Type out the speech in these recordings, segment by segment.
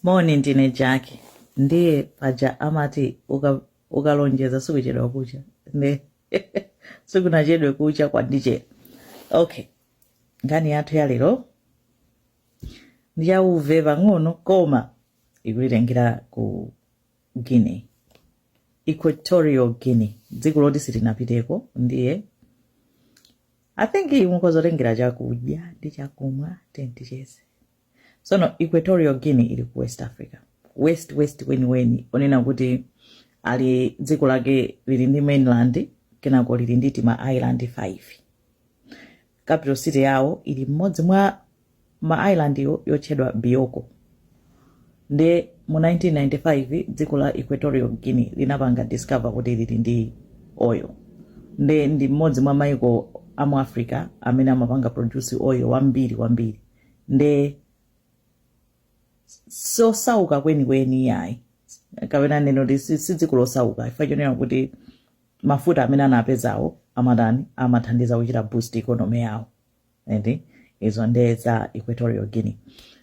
moni ndine jaki ndiye paja amati uka- ukalonjeza sikuchedwa kucha ne sikunachedwe kucha kwandichera okay nkhani yathu ya lero ndiyauve pang'ono koma ikutitengera ku guinea equatorial guinea dziko loti sitinapiteko ndiye i think mukhoza kutengera chakudya ndi chakumwa tenticheze sono equatorial guinea ili ku west africa west west wenuweni onena kuti ali dziko lake lili ndi mainland kenako lili ndi tima island 5 capital city yawo ili mmodzi mwa ma island yotchedwa Bioko nde mu 1995 dziko la Equatorial Guinea linapanga discover kuti lili ndi oil nde ndi mmodzi mwa maiko a mu Africa amene amapanga produce oil wambiri kwambiri nde sosauka kwenikweni yayi kapena ndinene kuti si si dziko losauka chifukwa chonena kuti mafuta amene anapezawo amatani amathandiza kuchita boost economy yawo eti izo nde za equatorial guinea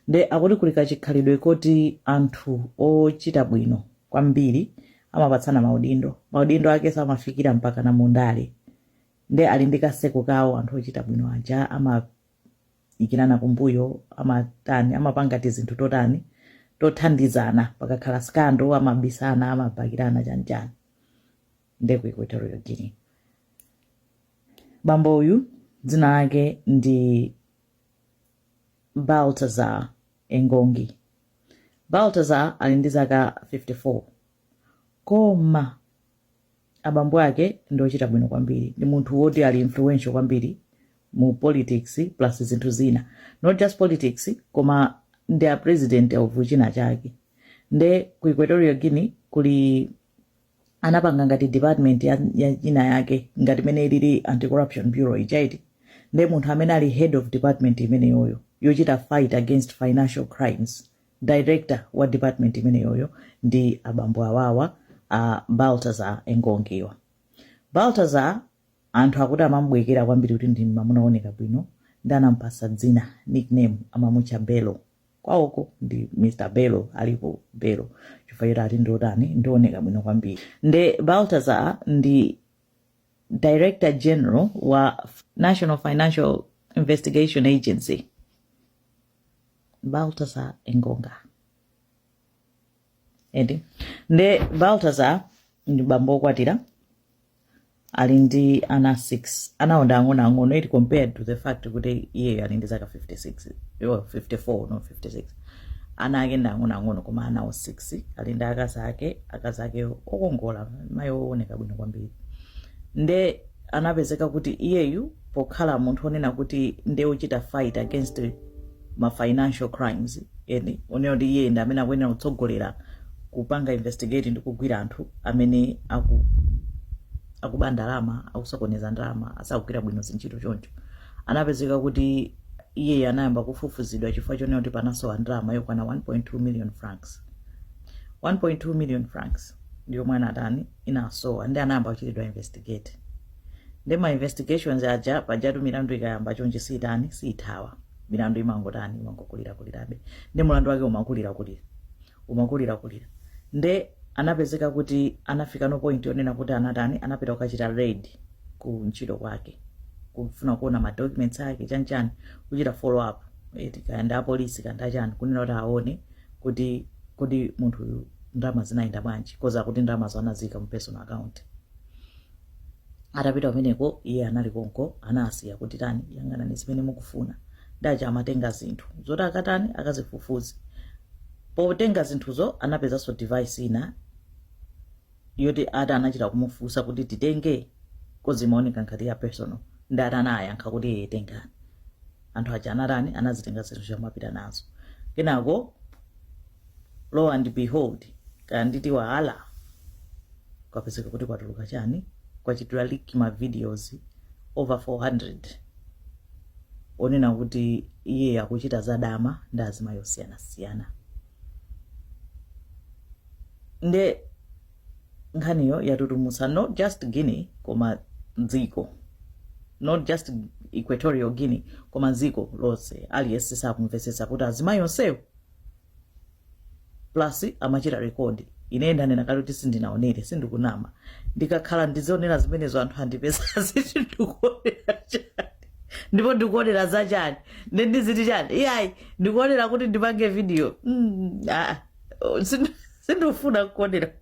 nde akuti kuli kachikhalidwe koti anthu ochita bwino kwambiri amapatsana maudindo maudindo ake samafikira mpaka na mundale nde ali ndi ka circle kawo anthu ochita bwino aja amayikirana kumbuyo amatani amapanga tizinthu totani tothandizana pakakhala scandal amabisana amabakirana chanichani nde ku equatorial guinea bambo uyu dzina lake ndi baltazar engongi baltazar ali ndi zaka 54 koma abambo ake ndi ochita bwino kwambiri ndi munthu woti ali influential kwambiri mu politics plus zinthu zina not just politics koma ndi a president of china chake nde ku equatorial guinea kuli anapanga ngati department ya china chake ngati mmene ilili anti corruption bureau ija eti nde munthu amene ali head of department imeneyoyo yochita fight against financial crimes director wa department imeneyoyo ndi abambo awawa a baltazar engongiwa baltazar anthu akuti amamubwekera kwambiri kuti ndi mamuna wooneka bwino ndi anampasa dzina nickname amamutcha bello kwawoko ndi mr bello alipo bello chifukwa choti ati ndiotani ndioneka bwino kwambiri nde baltazar ndi director general wa national financial investigation agency baltazar engonga eti nde baltazar ndi bambo wokwatira ali ndi ana 6 anawo ndi ang'onoang'ono eti compared to the fact kuti iyeyo ali ndi zaka 56 54 no 56 ana ake ndi ang'onoang'ono koma anawo 6 ali ndi akazi ake akazi ake okongola mayi wooneka bwino kwambiri nde anapezeka kuti iyeyu pokhala munthu onena kuti nde uchita fight against ma financial crimes eni onena kuti iye ndi amene akuyenera kutsogolera kupanga investigate ndi kugwira anthu amene aku akuba ndalama akusokoneza ndalama sakugwira bwino zintchito choncho anapezeka kuti iyeyo anayamba kufufuzidwa chifukwa chonena kuti panasowa ndalama yokwana 1.2 million francs 1.2 million francs ndiyo mwana atani inasowa nde anayamba kuchitidwa investigate nde ma investigations aja pajatu milandu ikayamba chonje siitani siithawa milandu imangotani imangokulira kulirabe nde mulandu wake umakulira kulira umakulira kulira nde anapezeka kuti anafika pa point yonena kuti anatani anapita kukachita raid ku ntchito kwake kufuna kuona ma documents ake chanchani kuchita follow up eti kaya ndi apolisi kaya ndi achani kunena kuti aone kuti kodi munthu uyu ndalama zinayenda bwanji coz akuti ndalamazo anaziyika mu personal account atapita kumeneko iye anali konko anasiya kuti tani yang'anani zimene mukufuna ndacha amatenga zinthu zoti akatani akazifufuze potenga zinthuzo anapezanso device ina yoti ati anachita kumufunsa kuti titenge coz imaoneka ngati ya personal nde ati anayankha kuti ee tengani anthu aja anatani anazitenga zinthu zija napita nazo kenako lo and behold kaya nditi voila kwapezeka kuti kwatuluka chani kwachitika leak ma videos over 400 onena kuti iye akuchita zadama ndi azimayi osiyanasiyana nde nkhaniyo yatutumutsa not just guinea koma dziko not just equatorial guinea koma dziko lonse aliyense sakumvetsetsa kuti azimayi onsewo plus amachita record ine ndanena kale kuti sindinaonere sindikunama ndikakhala ndizionera zimenezo anthu andipeza aziti ndikuonera chani ndipo ndikuonera za chani nde ndiziti chani iyayi ndikuonera kuti ndipange video mm, ah, Sin- sindifuna kuonera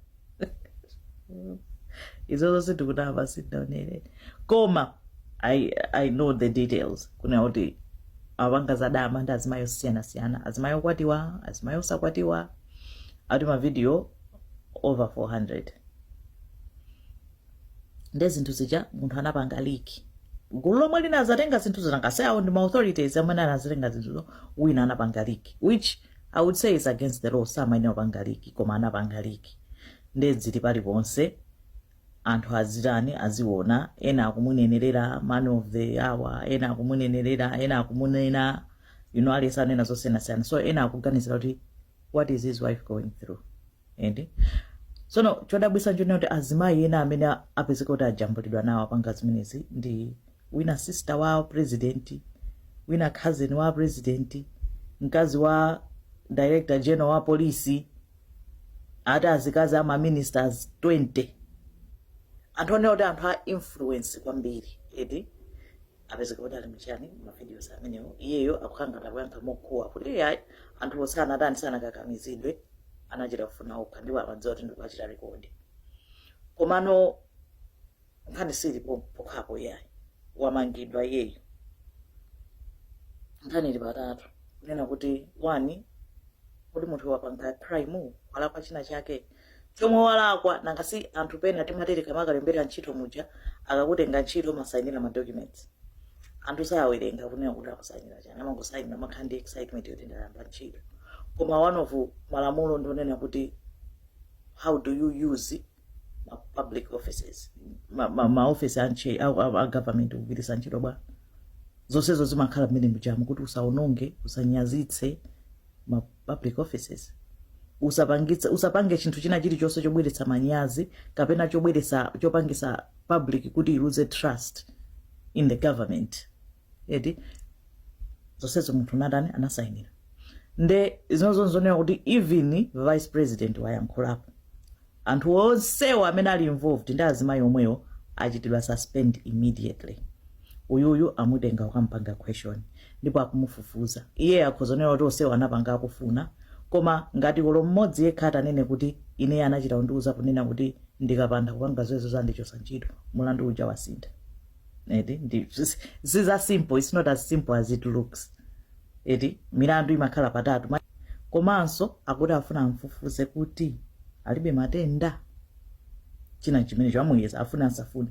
izozo sindikunama sindinaonere koma I, i know the details kunena kuti amapanga zadama ndi azimayi osiyanasiyana azimayi okwatiwa azimayi osakwatiwa ati mavidiyo over 400 nde zinthu zija munthu anapanga leak gulu lomwe linazatenga zinthu zinangaseyawo ndi ma authorities amene anazatenga zinthuzo wina anapanga leak which i would say is against the law samayenera kupanga liki koma anapanga liki nde zili paliponse anthu azitani aziona ena akumunenerera man of the hour ena akumunenerera ena akumunena you know aliyense anena zosiyanasiyana so ena akuganizira kuti what is his wife going through ende tsono chodabwitsa nchonena kuti azimayi ena amene a- apezeka kuti ajambulidwa nawo apanga zimenezi ndi wina sister wa president wina cousin wa president mkazi wa director general wa polisi ati azikazi ama ministers 20 anthu onena kuti anthu a influence kwambiri eti apezeka kuti ali muchani mavideos amenewo iyeyo akungotha kuyankha mokuwa kuti iyayi anthu onse anatani sanakakamizidwe anachita kufuna okha ndipo amadziwa kuti ndikuachita rekodi komano nkhani sili pokhapo iyayi wamangidwa iyeyo nkhani ili patatu kunena kuti wani kodi munthu wapanga crime walakwa china chake chomwe walakwa nanga si anthu pena timatere mukamakalembera ntchito muja akakutenga ntchito masayinira ma documents anthu sawerenga kuona kuti akusayinira chani amangosayinira makhala ndi excitement yoti ndayamba ntchito koma one of malamulo ndi onena kuti how do you use ma public offices ma, ma, ma office a, nche- a, a, a government kugwiritsa ntchito bwa zonsezo zimakhala mmene mujamu kuti usaononge usanyazitse ma public offices usapangi- usapange chinthu china chilichonse chobweretsa manyazi kapena chobweretsa chopangisa public kuti iluze trust in the government eti zonsezo munthu anatani anasayinira nde zinozo nzonena kuti even vice president wayankhulapo Anthu onsewo amene ali involved ndi azimayi omwewo achitidwa suspend immediately. Uyuyu amutenga kukamupanga question ndipo akumufufuza. Iyeyo akhoza kunena kuti onsewo anapanga akufuna koma ngati olo mmodzi yekha atanene kuti ineyo anachita kundiuza kunena kuti ndikapanda kupanga zimenezo andichosa ntchito, mulandu uja wasintha. Eti ndi si za simple, it's not as simple as it looks. eti milandu imakhala patatu komanso akuti afuna amfufuze kuti alibe matenda china chimene chamuyesa afune asafune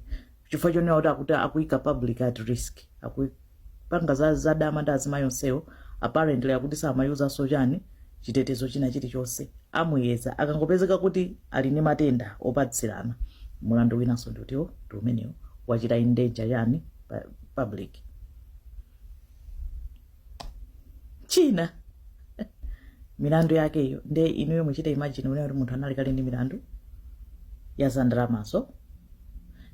chifukwa chonena kuti akuti akuyika public at risk akupanga za zadama ndi azimayi onsewo apparently akuti samayuzanso chani chitetezo china chilichonse amuyeza akangopezeka kuti ali ndi matenda opatsirana mulandu winanso ndiutiwo ndi umenewo wachita endanger ndani public china milandu yakeyo nde inuyo muchita imagine unena kuti munthu anali kale ndi milandu ya za ndalamazo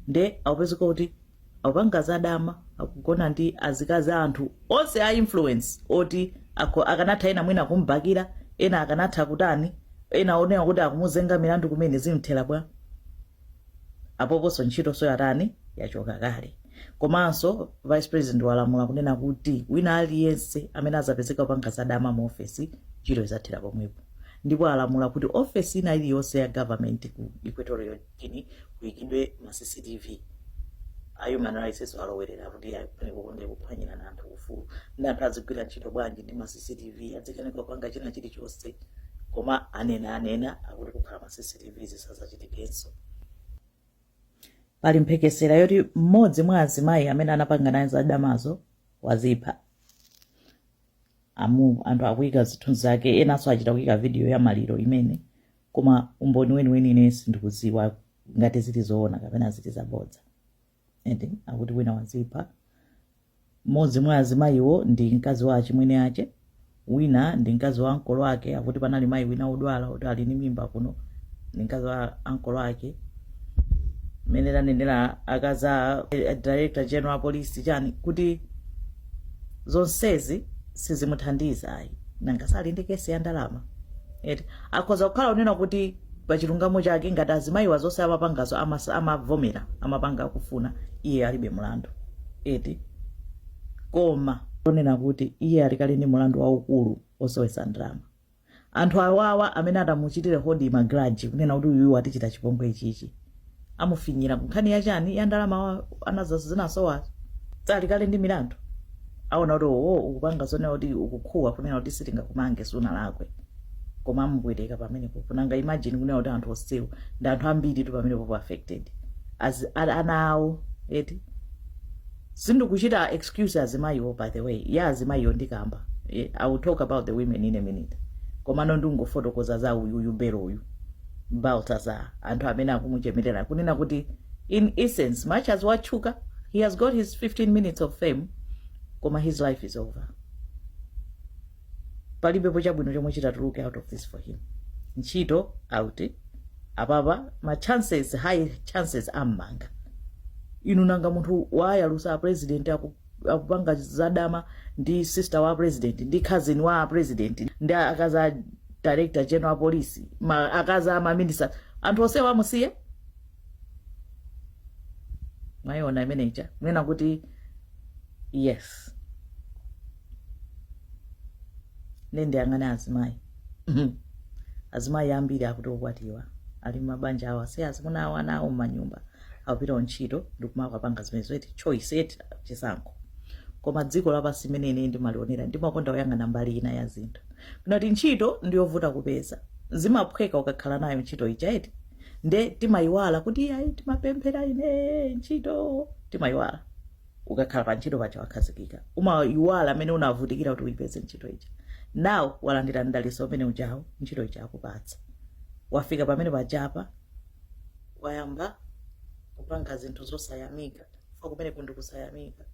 nde akupezeka kuti akupanga za dama akugona ndi azikazi a anthu onse a influence oti akanatha ena mwina kumbakira ena akanatha kutani ena onena kuti akumuzenga milandu kumene zimthera bwa apoponso ntchitonso yatani yachoka kale komanso vice president walamula kunena kuti wina aliyense amene azapezeka kupanga zadama mu ofesi ntchito izathera pomwepo ndipo alamula kuti ofesi ina iliyonse ya government ku equatorial guinea kuyikidwe ma cctv a human rights alowerera kuti ayi uko nde kuphwanyira anthu ufulu nde anthu azigwira ntchito bwanji ndi ma cctv azikanika kupanga china chilichonse koma anena anena akuti kukhala ma cctv kuti zisazachitikenso pali mphekesera yoti mmodzi mwa azimayi amene anapanga naye zadamazo wazipha amu anthu akuyika zithunzi zake enanso achita kuyika vidiyo ya maliro imene koma umboni weniweni ine sindikuziwa ngati zili zoona kapena zili zabodza ende akuti wina wazipha mmodzi mwa azimayiwo ndi mkazi wa achimwene ache wina ndi mkazi wa ankolo ake akuti panali mayi wina wodwala kuti ali ndi mimba kuno ndi mkazi wa ankolo ake mmene tanenera akazi a a director general a police chani kuti zonsezi sizimuthandiza ayi nanga sali ndi kesi ya ndalama eti akhoza kukhala unena kuti pa chilungamo chake ngati azimayiwa zonse amapangazo amasa- amavomera amapanga akufuna iye alibe mlandu eti koma onena kuti iye ali kale ndi mlandu waukulu osowetsa ndalama anthu awawa amene atamuchitire hodi magraji kunena kuti uyuyu watichita chipongwe ichichi amufinyira nkhani kunkhani ya chani ya ndalama wa- anazo zinasowazo ali kale ndi milandu aona kuti owo ukupanga zonena kuti ukukhuwa kunena kuti sitingakumange sunalakwe koma amubwereka pamenepo kunanga imagine kunena kuti anthu onsewo ndi anthu ambiri tu amene apo affected a- ana awo eti sindikuchita excuse azimayiwo by the way ya azimayiwo ndikamba Eh, i will talk about the women in a minute komano ndingofotokoza za uyu uyu Bello uyu Baltazar anthu amene akumuchemerera kunena kuti in essence much as watchuka he has got his 15 minutes of fame koma his life is over palibepo chabwino chomwe chitatuluke out of this for him ntchito out apapa ma chances high chances ammanga inu nanga munthu wayalusa a president akupanga zadama ndi sister wa president ndi cousin wa president ndi akazi a director general wa police ma, akazi a maminista anthu onsewa amusiya mwayiona imeneja kunena kuti yes nde ndiyang'ana ali azimayi azimayi ambiri akuti okwatiwa ali mmabanja awo asiye azimuna awo ana awo mmanyumba akupita ku ntchito ndikumakapanga zimenezo eti choice eti chisankho koma dziko lapansi mmene ine ndimalionera ndimakonda kuyang'ana mbali ina ya zinthu ndinati ntchito ndiyovuta kupeza zimaphweka ukakhala nayo ntchito ija eti nde timayiwala kuti iyayi timapemphera ine ntchito timayiwala ukakhala pa ntchito paja wakhazikika umayiwala mmene unavutikira kuti uyipeze ntchito ija now walandira mdalitso umene ujawo ntchito ija akupatsa wafika pamene pajapa wayamba kupanga zinthu zosayamika ifa kumeneko ndi kusayamika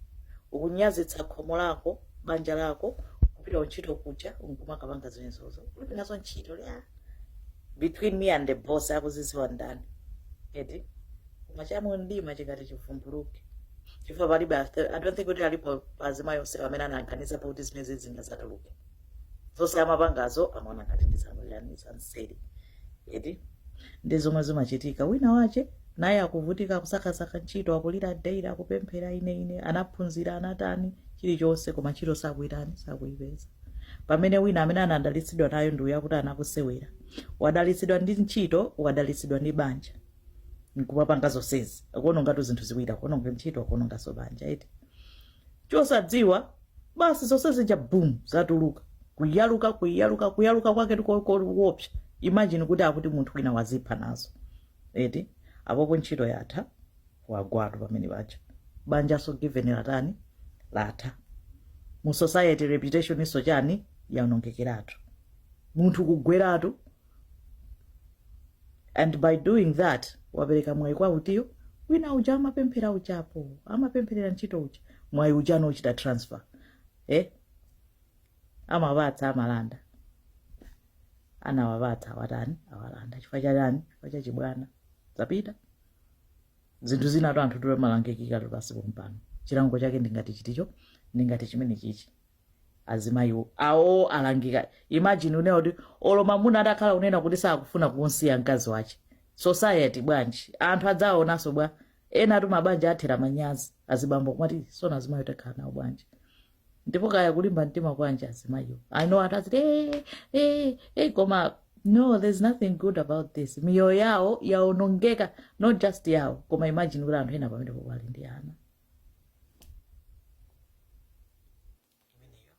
ukunyazitsa khomo lako banja lako kupita kuntchito kuja nkumakapanga zimenezozo ulibe nazo ntchito iya between me and the boss akuzidziwa ndani eti koma cha mu mdima chikati chivumbuluke chifukwa palibe after- i don't think kuti alipo azimayi onse amene anaganizapo kuti zimene zingadzatuluke zonse amapangazo amaona ngati ndi zamuyani zanseri eti ndi zomwe zimachitika wina wache naye akuvutika akusakasaka ntchito akulira daily akupemphera ine ine anaphunzira anatani chilichonse koma ntchito sakuyitani sakuyipeza pamene wina amene anadalitsidwa nayo ndi uyo akuti anakaseweretsa wadalitsidwa ndi ntchito wadalitsidwa ndi banja nkumapanga zonsezi akuonongatu zinthu ziwiri akuononga ntchito akuononganso banja eti chosadziwa basi zonse zija bum zatuluka kuyaluka kuyaluka kuyaluka kwake nkoopsa imagine kuti akuti munthu wina wazipha nazo eti apopo ntchito yatha wagwatu pamene paja banjaso given latani latha mu society reputation nso chani yaonongekeratu munthu kugweratu and by doing that wapereka mwayi kwa utiyo wina uja amapemphera uchapo amapempherera ntchito uja mwayi uja nauchita transfer eh? amapatsa amalanda anawapatsa awatani awalanda chifukwa cha chani chifukwa cha chibwana zapita zinthu zinatu anthufe timalangikiratu pansi pompano chilango chake ndingati chiticho ndingati chimene chichi azimayiwo awo alangika imagine kunena kuti olo mamuna atakhala kunena kuti sakufuna kumsiya mkazi wache society bwanji anthu adzawaonanso bwa enatu mabanja athera manyazi azibambo kumati zoona azimayi utakhala nawo bwanji ndipo kaya kulimba mtima kwanji azimayiwo I know anthu aziti "Eh, eh, eh," koma no there's nothing good about this miyoyo yawo yaonongeka not just yawo koma imagine kuti anthu ena pamene popo ali ndi ana imeneyo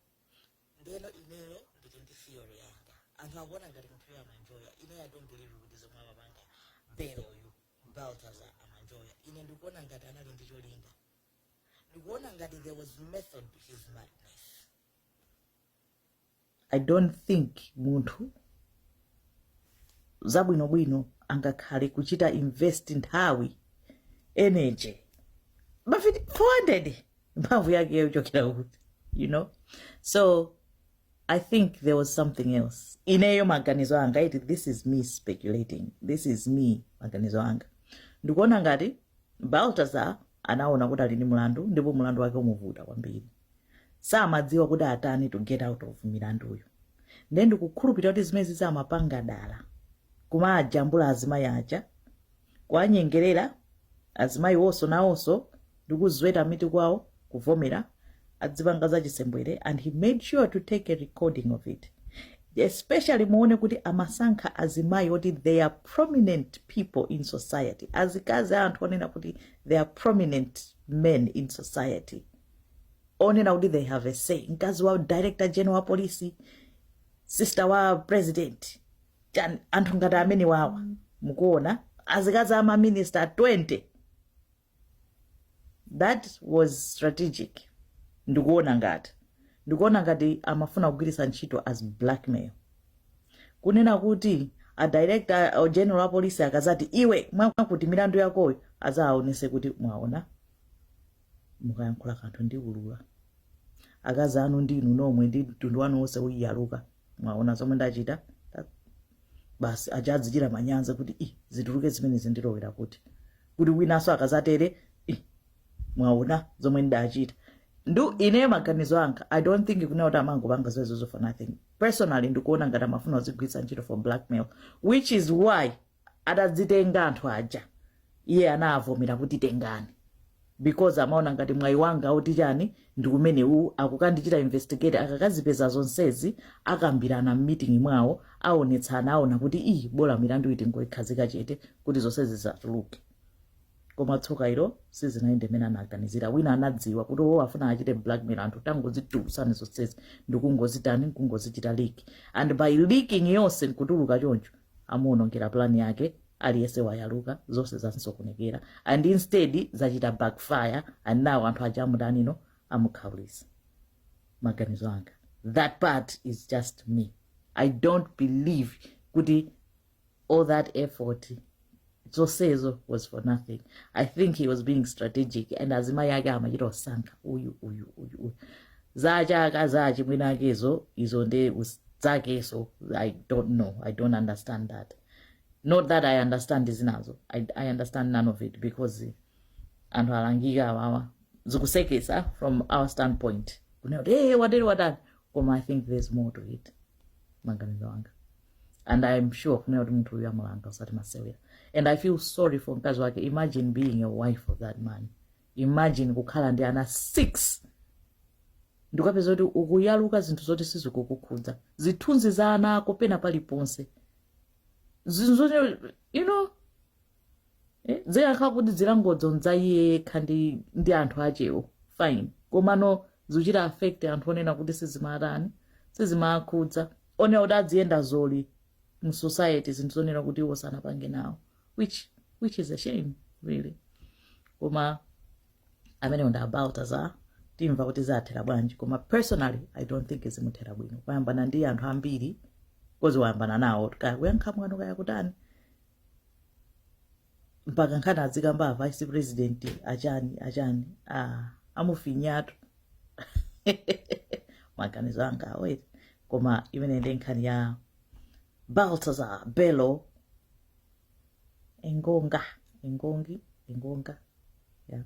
ndeno ineyo ndili ndi theory yanga anthu akuona ngati munthuyo amanjoya ineyo i don't believe kuti zomwe amapanga Bello-yu Baltasar amanjoya ine ndikuona ngati anali ndi cholinga ndikuona ngati there was method to his madness i don't think munthu wabwinobwino angakhale kuchita invest nthawi energy mavidiyo 400 mphamvu yake yochokera kuti you know so i think there was something else ineyo maganizo anga iti this is me speculating this is me maganizo anga ndikuona ngati Baltasar anaona kuti ali ndi mulandu ndipo mulandu wake omuvuta kwambiri samadziwa kuti atani to get out of milanduyo nde ndikukhulupirira kuti zimene zija amapanga dala kumawajambula azimayi aja kuwanyengerera azimayi wonso nawonso ndikuzweta mitu kwawo kuvomera azipanga za chisembwere and he made sure to take a recording of it especially muone kuti amasankha azimayi oti they are prominent people in society azikazi a anthu onena kuti they are prominent men in society onena kuti they have a say mkazi wa director general wa polisi sister wa president Chan- anthu ngati amene wawa mukuona azikazi ama minister 20 that was strategic ndikuona ngati ndikuona ngati amafuna kugwiritsa ntchito as blackmail kunena kuti a director general wa polisi akazati iwe mwakuti milandu yakoyo azaonese kuti mwaona mukayankhula kanthu ndiulula akazi anu ndi inu nomwe ndi mtundu wanu wonse uyaluka mwaona zomwe ndachita Ta- basi aja azichita manyazi kuti ii zituluke zimene zindilowera kuti kuti winanso akazatere ii mwaona zomwe ndachita nde ine maganizo anga i don't think kunena kuti amangopanga zoizo for nothing personally ndikuona ngati amafuna kuzigwiritsa ntchito for blackmail which is why atazitenga anthu aja iye anavomera kuti tengani because amaona ngati mwayi wanga utichani ndi umene uwu akukandichita investigate akakazipeza zonsezi akambirana mmitingi mwawo aonetsana aona kuti ii bola milanduyi tingoyikhazika chete kuti zonsezi zisatuluke koma tsoka ilo sizinayende mmene anaganizira wina anadziwa kuti wo afuna achite blackmail anthu tingozitulutsani zonsezi ndikungozitani nkungozichita leak and by leaking yonse nkutuluka choncho amuonongera plan yake aliyense wayaluka zonse zansokonekera and instead zachita backfire and now anthu aja amuda now amukhawulisa maganizo anga that part is just me i don't believe kuti all that effort zonsezo was for nothing i think he was being strategic and azimayi ake amachita osankha uyu uyu uyu uyu za cha akazi a achimwene akezo izo nde us- zakeso i don't know i don't understand that not that i understand zinazo i, I understand none of it because anthu alangika awawa zikusekesa from our standpoint kunena kuti hey, wateri watani koma i think there's more to it maganizo anga and i'm sure kunena kuti munthu uyu amulanga usati masewera and i feel sorry for mkazi wake imagine being a wife of that man imagine kukhala ndi ana six ndi kupeza kuti ukuyaluka zinthu zoti sizikukukhudza zithunzi za ana ako pena paliponse zinthu zoti you know eh, zikakhala kuti zilangozo n'za iye yekha ndi, ndi anthu achewo fine komano zikuchita affect anthu onena kuti sizimatani sizimakhudza onena kuti adziyenda zyoli mu society zinthu zonena kuti iwo sanapange nawo which, which is a shame really koma amenewo ndi Baltasar timva kuti zathera bwanji koma personally i don't think zimuthera bwino kuyambana ndi anthu ambiri kozi wayambana nawo kaya kuyankha mwano kaya kutani mpaka nkhani adzikamba avice president achani achani ah, amufinyatu maganizo anga aweti koma imene ndi nkhani ya baltazar bello engonga engongi engonga yeah.